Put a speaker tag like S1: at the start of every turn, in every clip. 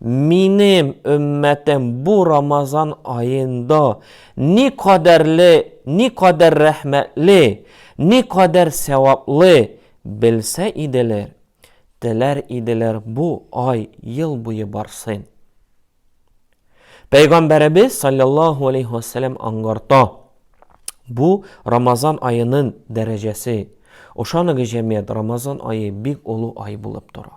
S1: Минем өммәтем бу Рамазан аенда ни кадәрле, ни кадәр рәхмәтле, ни кадәр сәваплы белсә иделәр, теләр иделәр бу ай ел буе барсын. Пәйгамбәребез саллаллаһу алейһи ва саллям аңгарта, бу Рамазан аенын дәрәҗәсе. Ошаныгыз җәмият, Рамазан ае бик олы ай булып тора.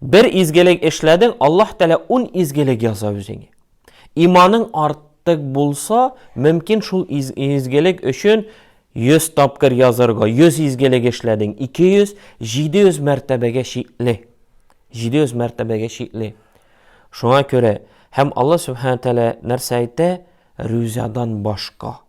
S1: Бер изгелек эшләдең, Аллаһ Тәгалә ун изгелек яза үзеңә. Иманың артык булса, мөмкин шул изгелек өчен 100 тапкыр язарга, 100 изгелек эшләдең, 200, 700 мәртәбәгә чикле. 700 мәртәбәгә чикле. Шуңа күрә, һәм Аллаһ Сүбхәнә Тәгалә нәрсә әйтә? Рүзадан башка.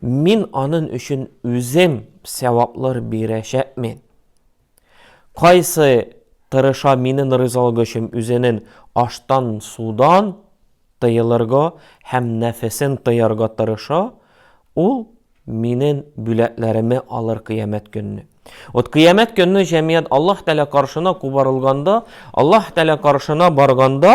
S1: Мин анын өчен үзем сәваплар бирәчәкмен. Кайсы тырыша минен ризалыгы өчен үзенен аштан, судан тыелырга һәм нәфесен тыярга тырыша, ул минен бүләкләреме алыр кыямәт көнне. От кыямәт көнне җәмият Аллаһ Тәгалә каршына кубарылганда, Аллаһ Тәгалә каршына барганда,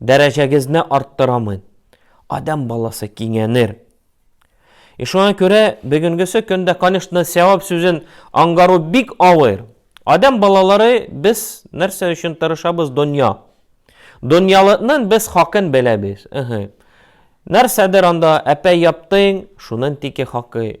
S1: Дәрәҗәгезне арттырамын. Адәм баласы киңәнер. И шуңа күрә бүгенгесе көндә, конечно, сәвап сүзен аңгару бик авыр. Адәм балалары без нәрсә өчен тырышабыз? Дөнья. Дөньялыкның без хакын беләбез. Ыһы. Нәрсәдер анда әпәй яптың, шунын тики хакы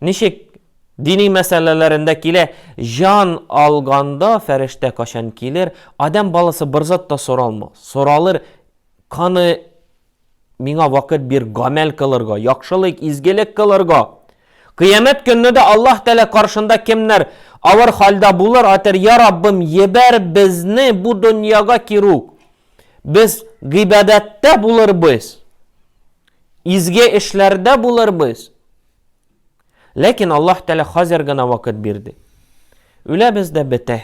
S1: Ничек дини мәсьәләләрендә килә, җан алганда фәрештә качан килер, адәм баласы бер зат та соралма, соралыр, каны миңа вакыт бир гамәл кылырга, яхшылык, изгелек кылырга. Кыямәт көнне дә Аллаһ Тәгалә каршында кемнәр авыр хәлдә булыр, атер, я Раббым, ебәр безне бу дөньяга кирүк. Без гыйбадәттә булырбыз, изге эшләрдә булырбыз. Ләкин Аллаһ Тәгалә хәзер генә вакыт бирде. Үләбез дә бетә.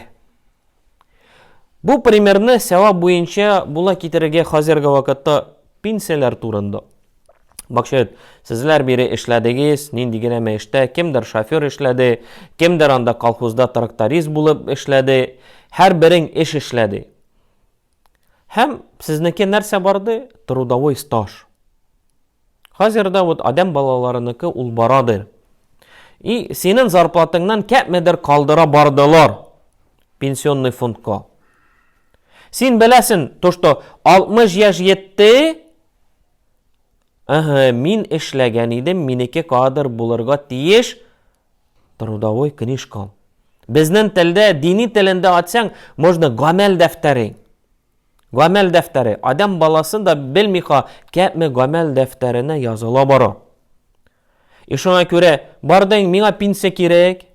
S1: Бу примерны сәвап буенча була китерергә хәзерге вакытта пенсияләр турында. Бакчет, сезләр бире эшләдегез, нинди генә мәштә, кемдер шофер эшләде, кемдер анда колхозда тракторист булып эшләде, һәр берең эш эшләде. Һәм сезнеке нәрсә барды? Трудовой стаж. Хәзер дә вот адәм балаларыныкы ул барады. И синең зарплатыңнан кәпмедер калдыра бардылар пенсионный фондка. Син беләсен, то что 60 яшь йетте, Ага, мин эшләгән идем, минеке кадр булырга тиеш, Трудовой книжкам. Безнен телдә дини телендә атсаң, можно гамәл дәфтәре. Гамәл дәфтәре. Адам баласын да белмиха, кәпме гамәл дәфтәренә языла бара. И шуңа күрә, бардың, миңа пенсия кирәк.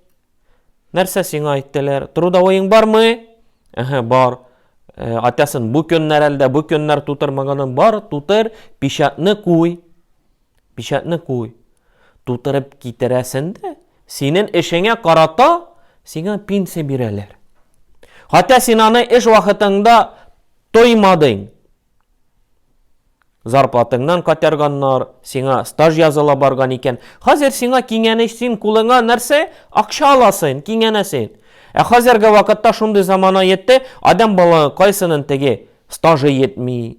S1: Нәрсә сиңа әйттеләр? Трудовойың бармы? Әһә, бар. Э, атасын бу көннәр әлдә, бу көннәр тутырмаганын бар, тутыр, печатны куй. Печатьне куй. Тутырып китерәсен дә, синен эшеңә карата сиңа пенсия бирәләр. Хәтта син аны эш вакытыңда тоймадың. Зарплатыңнан катерганнар, сиңа стаж языла барган икән. Хәзер сиңа киңәнеш, син кулыңа нәрсә? Акча аласың, киңәнәсең. Ә хәзерге вакытта шундый замана йетте, адам бала кайсының теге стажы йетми,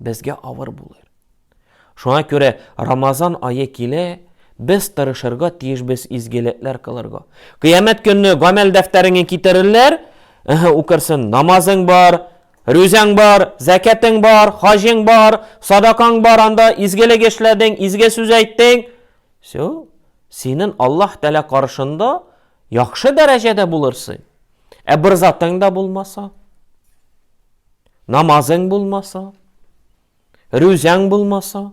S1: безгә авыр булыр. Шуңа күрә Рамазан ае килә, без тырышырга тиешбез изгелекләр кылырга. Кыямәт көнне гамәл дәфтәреңне китерерләр, эһе, укырсын, намазың бар, рүзәң бар, зәкәтең бар, хаҗың бар, садакаң бар, анда изгелек эшләдең, изге сүз әйттең. Все. Синен Аллаһ Тәгалә каршында яхшы дәрәҗәдә булырсың. Ә бер затың да булмаса, Намазың булмаса, рүзәң булмаса,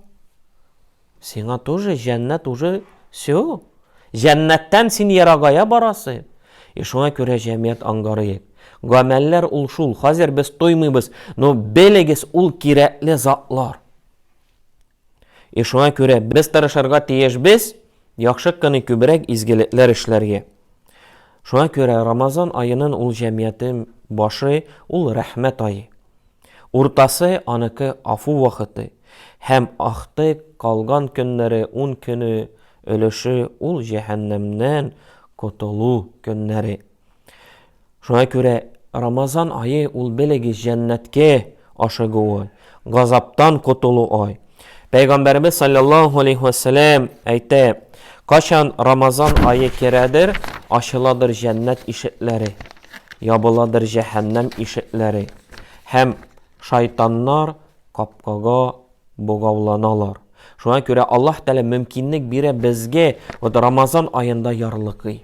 S1: сиңа тоже җәннәт уже все. Җәннәттән син ерагая барасы. И шуңа күрә җәмият ангарыек. Гамәлләр ул шул. Хәзер без тоймыйбыз, но белегез, ул кирәкле затлар. И шуңа күрә без тырышырга тиешбез яхшы кыны күбрәк изгелекләр эшләргә. Шуңа күрә Рамазан аенын ул җәмиятен башы ул рәхмәт ае. Уртасы аныкы афу вакыты һәм ахты калган көннәре ун көне өлеше ул җәһәннәмнән котылу көннәре. Шуңа күрә Рамазан айы ул белегез җәннәткә ашыгуы, газаптан котылу ай. Пәйгамбәребез саллаллаху алейхи вәссәлам әйтә, качан Рамазан айы керәдер, ачыладыр җәннәт ишекләре, ябыладыр җәһәннәм ишекләре һәм шайтаннар капкага богауланалар. Шуңа күрә Аллаһ Тәгалә мөмкинлек бирә безгә вот Рамазан аенда ярлыкый.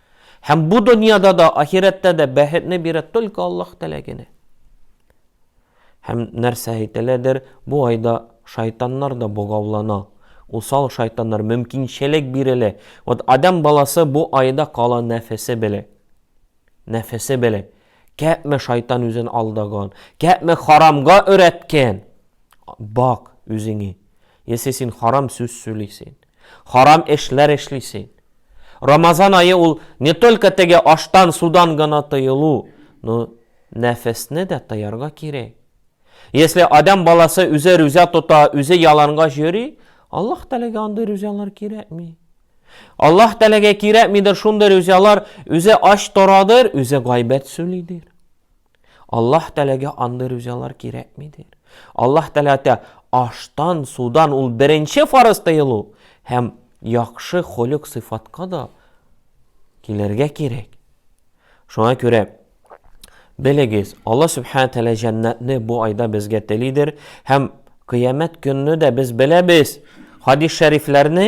S1: Һәм бу дөньяда да, ахирәттә дә бәхетне бирә только Аллаһ Тәгалә генә. Һәм нәрсә әйтеләдер, бу айда шайтаннар да богаулана. Усал шайтаннар мөмкинчелек бирелә. Вот адам баласы бу айда кала нәфесе белә. Нәфесе белә. Кәпме шайтан үзен алдаган, кәпме харамга өрәткән. Бак үзеңе. Если син харам сүз сөйлисең, Харам эшләр эшли син. Рамазан ае ул не только теге аштан, судан гына тыелу, но нәфесне дә тыярга кирәк. Если адам баласы үзе рүзә тота, үзе яланга йөри, Аллаһ Тәләгә андый рүзәләр кирәкми. Аллаһ Тәләгә кирәкмидер шундый рүзәләр, үзе ач торадыр, үзе гайбәт сүлидер. Аллаһ Тәләгә андый рүзялар кирәкмидер. Аллаһ Тәләтә аштан, судан ул беренче фарыз тыелу һәм яхшы холек сыйфатка да килергә кирәк. Шуңа күрә белегез, Аллаһ Субхана Тәлә җәннәтне бу айда безгә телидер һәм кыямәт көнне дә без беләбез. Хадис шәрифләрне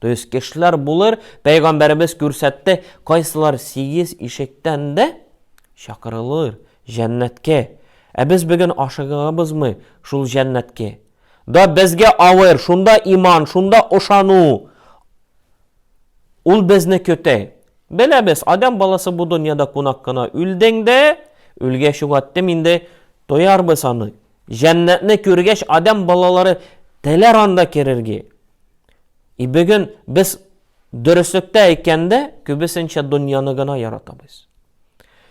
S1: То есть кешеләр булыр, пәйгамбәребез күрсәтте, кайсылар сигез ишектән дә чакырылыр җәннәткә. Ә без бүген ашыгабызмы шул җәннәткә? Да безгә авыр, шунда иман, шунда ошану. Ул безне көтә. Беләбез, адам баласы бу дөньяда кунак кына. Үлдең дә, үлгә чугаттым инде, тоярбыз аны. Җәннәтне күргәч, адам балалары теләр анда керергә. И бүген без дөреслектә әйткәндә күбесенчә дөньяны гына яратабыз.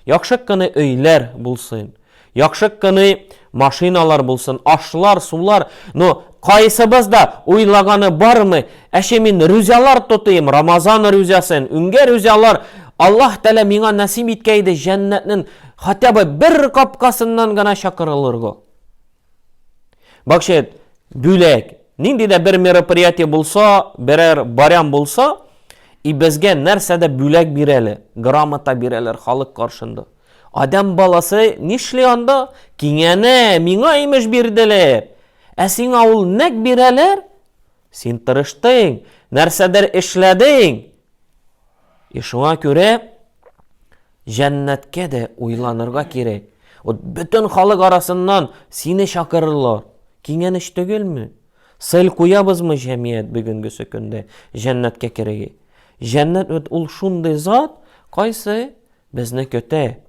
S1: Яхшы кыны өйләр булсын, яхшы кыны машиналар булсын, ашлар, сулар, но кайсыбыз да уйлаганы бармы, әше мин рүзялар тотыйм, Рамазан рүзясын, үңгә рүзялар, Аллаһ Тәлә миңа насип иткәйде җәннәтнең хотя бы бер капкасыннан гына чакырылырга. Бакчет, бүләк. Нинди дә бер мероприятие булса, берәр барям булса, и безгә нәрсә дә бүләк бирәле, грамота бирәләр халык каршында. Адам баласы нишли анда? Киңәнә, миңа имеш бирделәр. Ә сиңа ул нәк бирәләр? Син тырыштың, нәрсәдер эшләдең. И шуңа күрә җәннәткә дә уйланырга кирәк. Вот бөтен халык арасыннан сине чакырырлар. Киңәнеш түгелме? Сел куябызмы җәмият бүгенгесе көндә җәннәткә кереге? Җәннәт вот ул шундый зат, кайсы безне көтә.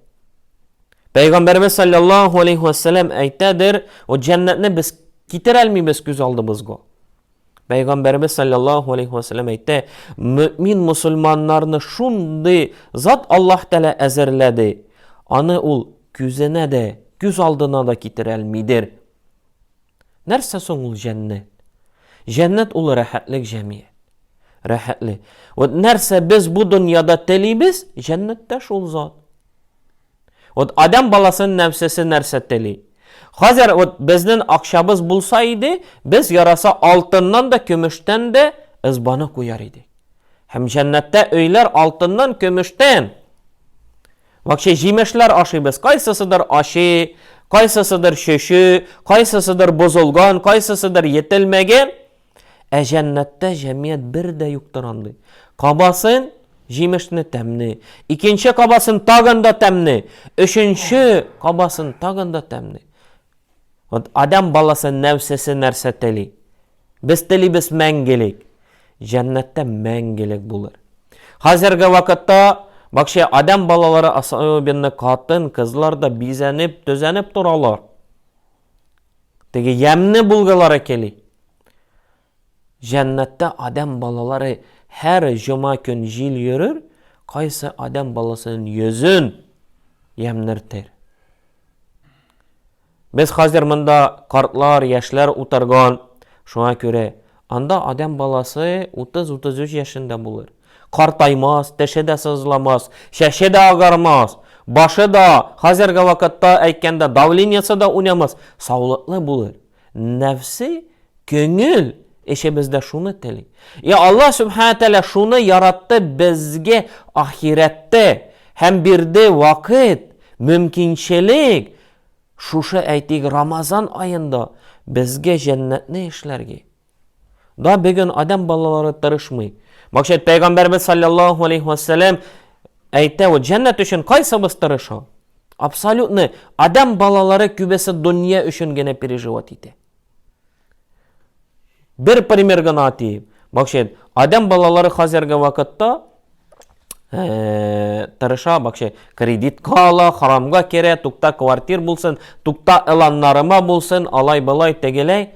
S1: Пәйгамбәрбез саллаллаху алейхи вассалам әйтәдер, вот җәннәтне без китерә алмыйбыз күз алдыбызга. Пәйгамбәребез саллаллаху алейхи ва саллям әйтте, мөмин мусульманнарны шундый зат Аллаһ Тәгалә әзерләде, аны ул күзенә дә, күз алдына да китерә алмыйдыр. Нәрсә соң ул җәннәт? Җәннәт ул рәхәтлек җәмият. Рәхәтлек. Вот нәрсә без бу дөньяда телибез, җәннәттә шул зат. Вот адәм баласын нәфсесе нәрсә тели? Хәзер вот безнен акчабыз булса иде, без яраса алтыннан да, көмештән дә ызбаны куяр идек. Һәм җәннәттә өйләр алтыннан, көмештән. Вакче җимешләр ашыйбыз, кайсысыдыр ачы, кайсысыдыр шөшү, кайсысыдыр бозылган, кайсысыдыр етелмәгән. Ә җәннәттә җәмият бер дә юктыр андый. Кабасын, җимешне тәмне, икенче кабасын тагын да тәмне, өченче кабасын тагын да тәмне. Вот адам баласы нәфсесе нәрсә тели? Без телибез мәңгелек. Җәннәттә мәңгелек булыр. Хәзерге вакытта бакча адам балалары особенно катын, кызлар да бизәнеп, төзәнеп торалар. Теге ямьне булгалары кели. Җәннәттә адәм балалары һәр җома көн җил йөрер, кайсы адәм баласының йөзен ямьнертер. Без хәзер монда картлар, яшьләр утырган, шуңа күрә Анда адәм баласы 30-33 яшендә булыр. Картаймас, теше дә сызламас, чәче дә агармас, башы да, хәзерге вакытта әйткәндә, давлениесе дә уйнамас, саулыклы булыр. Нәфсе, көңел эше бездә шуны тели. И Аллаһ Субхана Тәлә шуны яратты безгә ахирәттә һәм бирде вакыт, мөмкинчелек, Шушы, әйтик, Рамазан аенда безгә җәннәтне эшләрге да бүген адәм балалары тырышмый. Максат пәйгамбәрбез саллаллаһу алейхи ва саллям әйтә, вот җәннәт өчен кайсыбыз тырыша? Абсолютно адәм балалары күбесе дөнья өчен генә переживать итә. Бер пример гына атыйм. Бакшен, адәм балалары хәзерге вакытта э, тырыша, бакшен, кредитка ала, харамга керә, тукта квартир булсын, тукта ыланнарыма булсын, алай былай тегеләй.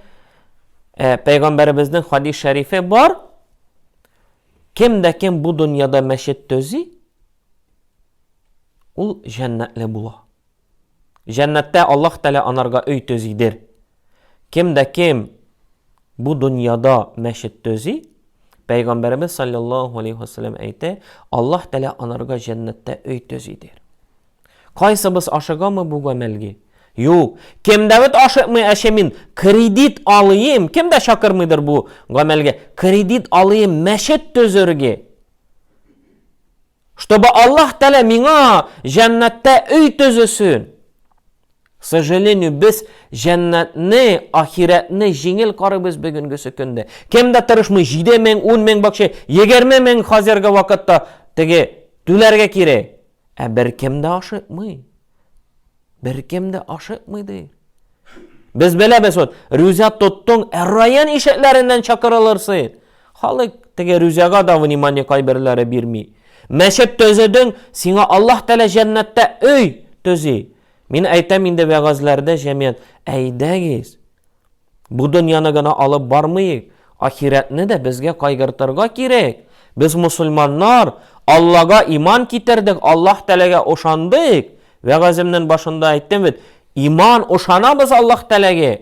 S1: Э, Пәйгамбәребезнең хадис шәрифе бар. Кем дә кем бу дөньяда мәчет төзи, ул җәннәтле була. Җәннәттә Аллаһ Тәгалә анарга өй төзидер. Кем дә кем бу дөньяда мәчет төзи, Пәйгамбәребез саллаллаһу алейһи ва саллям әйтә, Аллаһ Тәгалә анарга җәннәттә өй төзидер. Кайсыбыз ашыгамы бу гамәлгә? Юк. Кем дә бит ашыкмый, әче мин кредит алыйм, кем дә чакырмыйдыр бу гамәлгә. Кредит алыйм мәчет төзергә. Чтобы Аллаһ Тәлә миңа җәннәттә өй төзесен. К сожалению, без җәннәтне, ахирәтне җиңел карыйбыз бүгенгесе көндә. Кем дә тырышмый, 7 мең, 10 мең бакча, 20 мең хәзерге вакытта теге түләргә кирәк. Ә беркем дә ашыкмый. Беркем дә ашыкмый ди. Без беләбез вот, рюзя тоттың, ә район ишекләреннән чакырылырсың. Халык теге рюзяга да внимание кайберләре бирми. Мәчет төзедең, сиңа Аллаһ Тәгалә җәннәттә өй төзи. Мин әйтәм инде вәгазьләрдә җәмият, әйдәгез. Бу дөньяны гына алып бармыйк, ахирәтне дә безгә кайгыртырга кирәк. Без мосылманнар, Аллага иман китердек, Аллаһ Тәгаләгә ошандык. Вәгаземнен башында әйттем бит, иман, ошанабыз Аллаһ Тәгаләгә,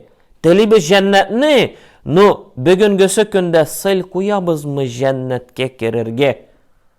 S1: телибез җәннәтне, ну, бөгенгесе көндә сыйл куябызмы җәннәткә керергә?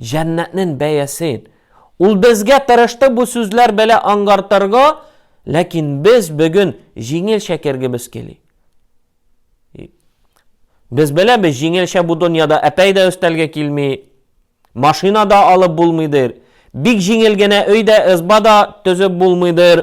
S1: Җәннәтнен бәясен. Ул безгә тырышты бу сүзләр белә аңгартырга, ләкин без бөген җиңелчә кергебез кели. Без беләбез, җиңелчә бу дөньяда әпәй дә өстәлгә килми, машина да алып булмыйдыр, бик җиңел генә өй дә, ызба да төзеп булмыйдыр.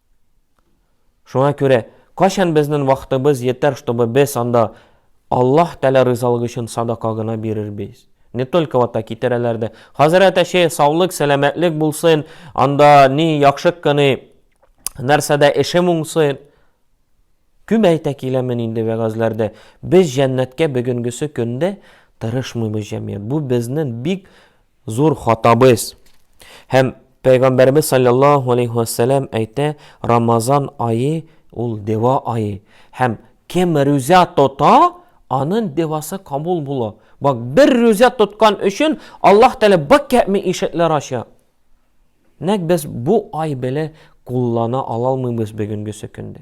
S1: Шуңа күрә, кайчан безнен вакытыбыз йетәр, чтобы без анда Аллаһ Тәгалә ризалыгы өчен садака гына бирербез? Не только вот так китерәләр дә, хәзрәт әче, саулык, сәламәтлек булсын, анда ни яхшы кыны, нәрсә дә эшем уңсын. Күп әйтә киләмен инде вәгазьләрдә. Без җәннәткә бөгенгесе көндә тырышмыйбыз җәмгыять. Бу безнен бик Зур хатабыз. Һәм Пәйгамбәребез саллаллаһу алейхи ва сәлам әйтә, Рамазан ае ул дева ае. Һәм кем рүзә тота, анын девасы кабул була. Бак, бер рүзә тоткан өчен Аллаһ Тәгалә бак кәми ишекләр ача. Нәк без бу ай беле куллана алалмыйбыз бүгенгесе көндә.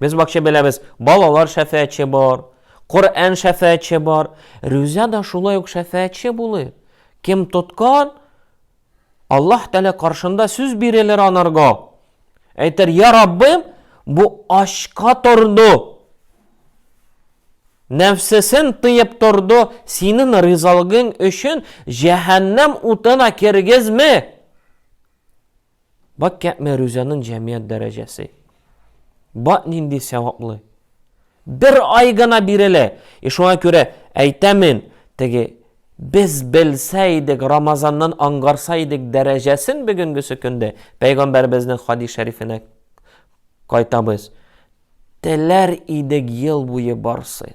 S1: Без бакча беләбез, балалар шәфәәтче бар, Коръән шәфәәтче бар, рүзә да шулай ук шәфәәтче булыр. Кем тоткан, Аллаһ Тәгалә каршында сүз бирелер анарга. Әйтер, я Раббым, бу ачка торды. Нәфсесен тыеп торды, синең ризалыгың өчен җәһәннәм утына кергезме? Бак кәпме рүзәнен җәмият дәрәҗәсе. Бак нинди сәваплы. Бер ай гына бирелә. И шуңа күрә әйтәмен, теге без белсә идек, Рамазаннан ангарса идек дәрәҗәсен бөгенгесе көндә пәйгамбәребезнең хадис шәрифенә кайтабыз. Теләр идек ел буе барсын.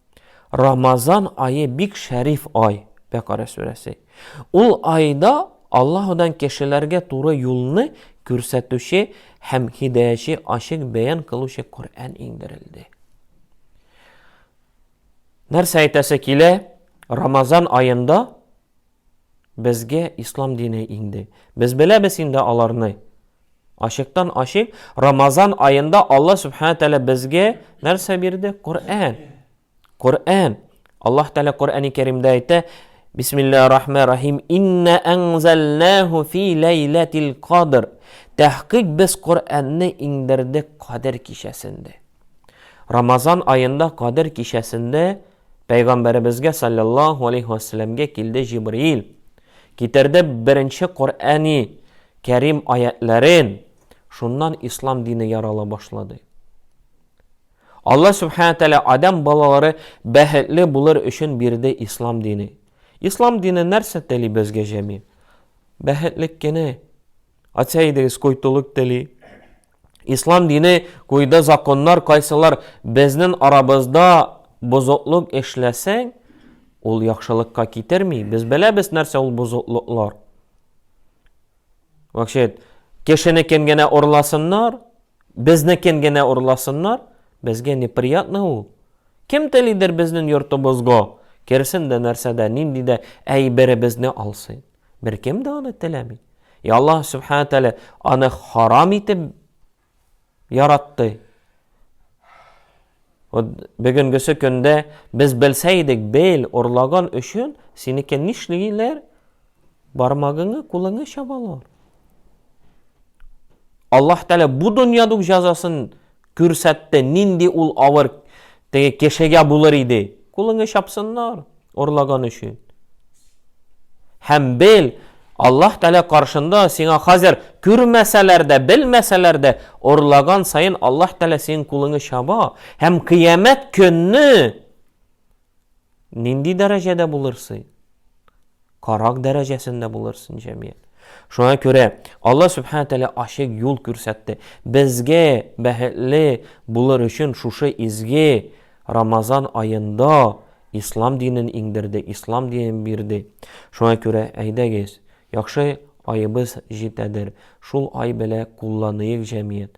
S1: Рамазан ае бик шәриф ай, Бәкарә сүрәсе. Ул айда Аллаһудан кешеләргә туры юлны күрсәтүче һәм һидаяче ачык бәян кылучы Коръән иңдерелде. Нәрсә әйтәсе килә? Рамазан аенда безгә ислам дине иңде. Без беләбез инде аларны. Ачыктан ачык, Рамазан аенда Аллаһ Субхана Тәлә безгә нәрсә бирде? Коръән. Коръән. Аллаһ Тәлә Коръәни Кәримдә әйтә, Бисмиллаһи рахмани рахим. Инна анзалнаху фи лайлатил кадр. Тәхкыйк без Коръәнне иңдердек Кадер кичәсендә. Рамазан аенда Кадер кичәсендә Пәйгамбәребезгә саллаллаху алейхи ва килде Җибраил. Китерде беренче Коръәни Кәрим аятьләрен, шуннан ислам дине ярала башлады. Алла Субхана Тәлә Адам балалары бәхетле булыр өчен бирде ислам дине. Ислам дине нәрсә тели безгә җәми? Бәхетлек кене. Атса идегез, койтулык тели. Ислам дине куйды законнар, кайсылар безнен арабызда бозыклык эшләсәң, ул яхшылыкка китерми. Без беләбез нәрсә ул бозыклыклар. Вообще, кешене кем генә урласыннар, безне кем генә урласыннар, безгә неприятно ул. Кем телидер безнен йортыбызга керсен дә нәрсәдә, нинди дә әйберебезне алсын. Беркем дә аны теләми. И Аллаһ Субхана Тәлә аны харам итеп яратты. Бүгенгесе көндә без белсә идек, бел, урлаган өчен синеке нишлиләр? Бармагыңны, кулыңны чабалар. Аллаһ Тәлә бу дөньяда жазасын Күрсәтте, нинди ул авыр теге кешегә булыр иде. Кулыңы чапсыннар, орлаган өчен. Һәм бел, Аллаһ Тәгалә каршында сиңа хәзер күрмәсәләр дә, белмәсәләр дә, орлаган саен Аллаһ Тәгалә синең кулыңы чаба, һәм кыямәт көнне Нинди дәрәҗәдә булырсың? Карак дәрәҗәсендә булырсың, җәмият. Шуңа күрә Алла Субхана Тәлә ачык юл күрсәтте. Безгә бәхетле булыр өчен шушы изге Рамазан аенда ислам динен иңдерде, ислам динен бирде. Шуңа күрә әйдәгез, яхшы аебыз җитәдер, шул ай белә кулланыйк, җәмият.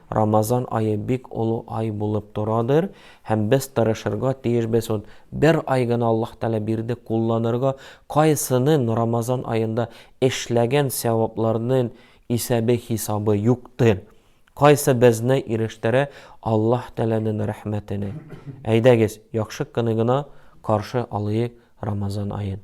S1: Рамазан ае бик олы ай булып торадыр һәм без тырышырга тиешбез ут бер ай гына Аллаһ Тәгалә бирде кулланырга кайсынын Рамазан аенда эшләгән сәвапларнын исәбе хисабы юктыр кайсы безне ирештерә Аллаһ Тәгаләнен рәхмәтенә әйдәгез яхшы кыны гына каршы алыйк Рамазан аен.